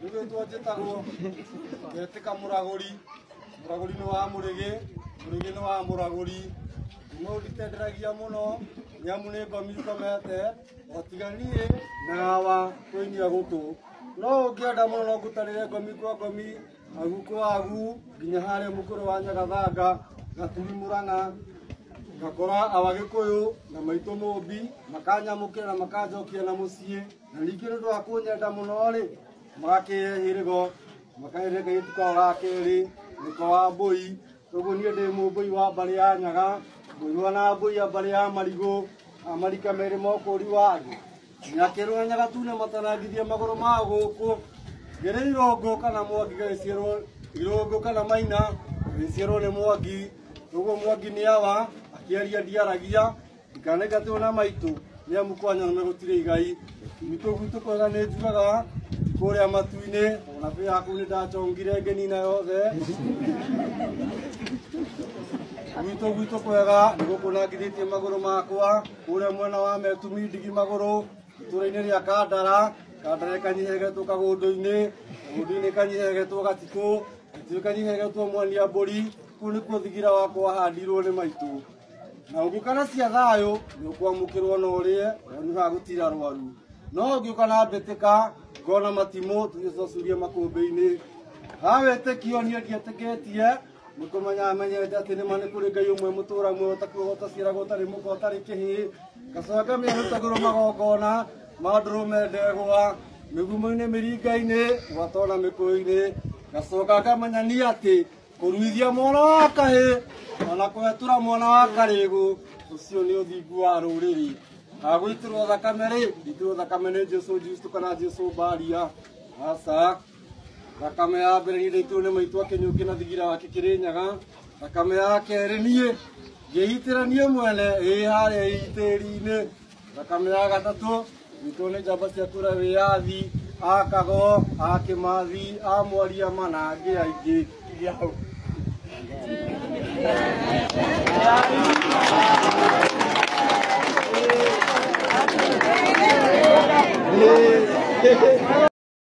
Nĩgwĩtwo njĩtagwo ngetĩka mũragũri mũragũri nĩ wa mũrĩgĩ mũrĩgĩ nĩ wa mũragũri kuma ũnditenderagia mũno nĩamu nĩ ngomi ngomete otiga niĩ na hawa kũinia gũtũ no ũngĩenda mũno no ngũtarĩre ngomi kwa ngomi agu kwa agu nginya harĩa mũkũrũ wa nyagathanga gaturi mũrang'a ngakora abagĩkũyũ na maitũ mũmbi makanyamũkĩra na makanjokia na mũciĩ na ningĩ nĩ ũndũ wa kũnyenda mũno-rĩ magakĩhe hĩrĩgo makaĩre ngai tukao ga kerĩ mũka wa mbũi ũguo niĩ ndĩ mũmbũi wa mbarĩ ya nyaga mũirwa na mbũi ya mbarĩ ya marigũ amarika merĩ mokũri wa andũ nyakĩrwo na nyaga tune matanangithie magũrũ ma gũkũ ngĩrĩ irũngũ kana mwangi gagĩciarwo irũngũ kana maina gagĩciarwo nĩ mwangi ũguo mwangi nĩ awa akĩaria ndiaragia Ndikanaingatwo na maitũ nĩ amu kwanyona me gũtirĩ igai gwitũ gwitũ kwega nĩ njugaga kũrĩa matu-inĩ ona bĩ yaku nĩ ndacongire ngenina yothe gwitũ gwitũ kwega nĩ gũkũnangithĩtie magũrũ makwa kũrĩa mwena wa metumi ndigi magũrũ itũra-inĩ rĩa kandara kandara kanyihegetwo kagũndũ-inĩ kagũndũ-inĩ kanyihegetwo gatikũ gatikũ kanyihegetwo mwania mbũri kũu nĩkuo thigira wakwa wahandirwo nĩ maitũ na ũngĩũka na cia thayũ nĩ ũkwamũkĩrwo na ũrĩe na nĩ ha gũtira rwaru no ũngĩũka na mbĩtĩka ngona matimũ tũgĩcocuria makũmbĩ-inĩ ha wĩtĩkio niĩ ndietĩkĩtie nĩ kũmenya menyete atĩ nĩma nĩ kũrĩ ngai ũmwe mũtũra muoyo ũtakuaga ũtaciaraga ũtarĩ mũka ũtarĩ kĩhĩ gacanga mĩarutagĩrwo magongona ma ndũrũme ndegwa mĩgumo-inĩ mĩringa-inĩ gwatona mĩkũyũ-inĩ gacoka ngamenya niĩ atĩ kũruithia mwana wa kahĩ ona kũhetũra mwana wa karĩgũ ũcio nĩ ũthingu wa rũrĩrĩ agwĩtĩrwo thakame rĩ itĩrwo thakame nĩ jesu justo kana jesu mbaria aca thakame ya mbere nĩ ndĩitĩrwo nĩ maitũ akĩnyũkĩ na thigira wake kĩrĩ nyaga thakame ya kerĩ niĩ ngĩitĩra niĩ mwene ĩ harĩa itĩri-inĩ Thakame ya gatatũ witũ nĩ njamba cia kura wĩyathi a kago a kĩmathi a mwaria mana angĩ aingĩ iria hau